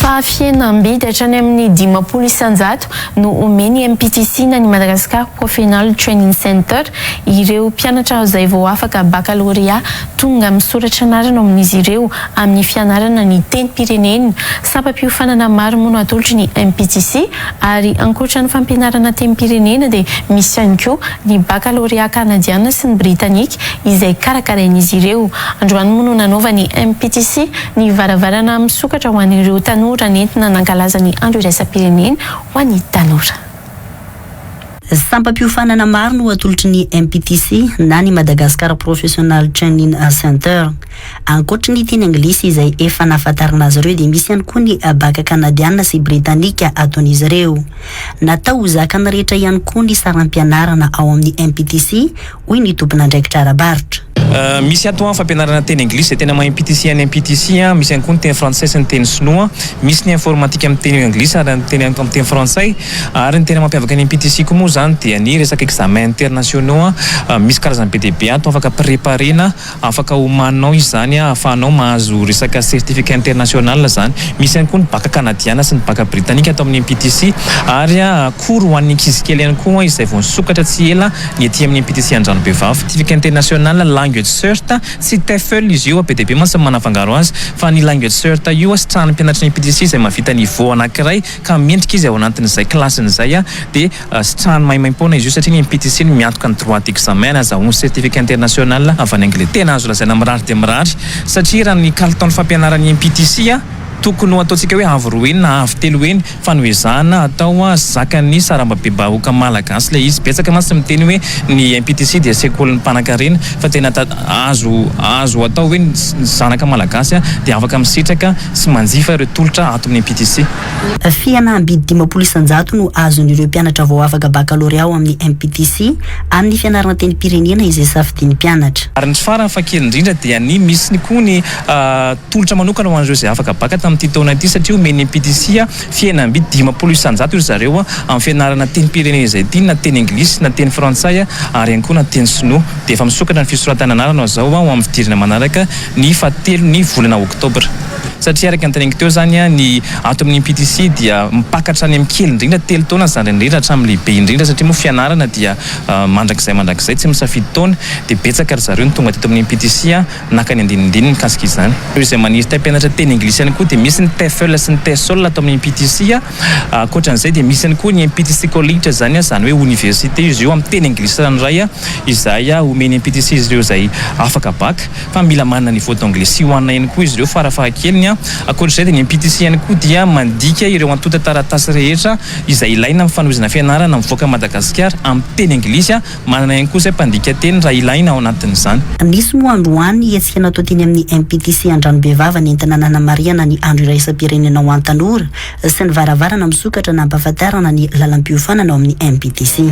Fahafihenam-bidy hatrany amin'ny dimampolo isan-jato no omen'ny MPTC na ny Madagascar Profeonal Training Center ireo mpianatra izay vao afaka bakalorea tonga misoratra anarana ao amin'izy ireo amin'ny fianarana ny tenim-pirenena. Sampam-piofanana maro mono atolotry ny MPTC Ary ankoatra ny fampianarana tenim-pirenena dia misy ihany koa ny bakalorea kanadiana sy ny britanika izay karakarain'izy ireo. Androany moa no nanaovan'ny MPTC ny varavarana misokatra ho an'ireo tanora nentina nankalaza ny andro iraisam-pirenena ho an'ny tanora. Sampam-piofanana maro no atolotry ny MPTC na ny Madagascar Professional Training Center. Ankoatry ny teny anglisy izay efa nahafantarana azy ireo dia misy ihany koa ny baka kanadiana sy britanika ataon'izy ireo. Natao ho zakan'ny rehetra ihany koa ny saram-pianarana ao amin'ny MPTC, hoy ny tompon'andraikitra ara-barotra. Misy ato an fampianarana teny anglisy izay tena mahay MPTC any MPTC an, misy ihany koa ny teny frantsay sy ny teny sinoa, misy ny informatika amin'ny teny anglisy ary amin'ny teny amin'ny teny frantsay ary ny tena mampiavaka ny MPTC koa moa izany dia ny resaka examens internationaux an, misy karazany be dia be ato afaka préparer-na. Afaka omaninao izany ahafahanao mahazo resaka certificat international izany. Misy ihany koa ny baka kanadiana sy ny baka britanika ato amin'ny MPTC ary cours ho an'ny ankizy kely ihany koa izay vao nisokatra tsy ela ny ety amin'ny MPTC Andranobevafa. Certificat international language cert, tsy TEFL izy io, be dia be mantsy ny manafangaro azy, fa ny language cert io sitrahan'ny mpianatry ny MPTC izay mahavita niveau anankiray ka mendrika izy ao anatin'izay kilasiny izay dia Sitrahany maimaimpoana izy io satria ny PTC no miantoka ny droit d'examen azahoany certificat international avy any Angleterre. Tena azo lazaina mirary dia mirary satria raha ny kalitaon'ny fampianaran'ny PTC tokony ho ataontsika hoe avo roa heny na avo telo heny fa no ezahana atao zakan'ny sarambabebahoka malagasy ilay izy. Betsaka mantsy ny miteny hoe ny PTC dia sekolin'ny mpanankarena fa tena azo azo atao hoe ny zanaka malagasy dia afaka misitraka sy manjifa ireo tolotra ato amin'ny PTC. Fihana am-bidy dimampolo isan-jato no azon'ireo mpianatra vao afaka bakalorea ao amin'ny MPTC amin'ny fianarana tenim-pirenena izay safidian'ny mpianatra. Ary ny tsy farany fa kely indrindra dia ny misy koa ny tolotra manokana ho an'ireo izay afaka baka tamin'ity taona ity satria omen'ny MPTC fihana am-bidy dimampolo isan-jato ry zareo amin'ny fianarana tenim-pirenena izay tiany na teny anglisy na teny frantsay ary ihany koa na teny sinoa. Dia efa misokatra ny fisoratana anarana izao ho amin'ny fidirana manaraka ny fahatelo ny volana oktobra. satria araka ny teneniko teo izany ny ato amin'ny PTC dia mpaka hatrany amin'ny kely indrindra telo taona zandriny indrindra hatramin'ny lehibe indrindra satria moa fianarana dia mandrakizay mandrakizay tsy misafidy taona dia betsaka ry zareo ny tonga teto amin'ny PTC naka ny andinindininy mikasika izany. Ireo izay maniry te hampianatra teny anglisy ihany koa dia misy ny TEFL sy ny TESOL ato amin'ny PTC, ankoatran'izay dia misy ihany koa ny MPTC College izany izany hoe oniversite izy io amin'ny teny anglisy ranoray izay omen'ny MPTC izy ireo izay afaka bac. fa mila manana niveau d'anglais sy ho an'ainy koa izy ireo farafahakeliny an! Ankoatr'izay dia ny MPTC ihany koa dia mandika ireo antontan-taratasy rehetra izay ilaina amin'ny fanohizana fianarana mivoaka Madagasikara amin'ny teny anglisy an! Manana ihany koa izay mpandika teny raha ilaina ao anatin'izany. Misy moa androany hetsika natao teny amin'ny MPTC Andranobevava nentina nanamarihana ny andro iraisam-pirenena ho an'ny tanora sy ny varavarana misokatra nampahafantarana ny lalam-piofanana ao amin'ny MPTC.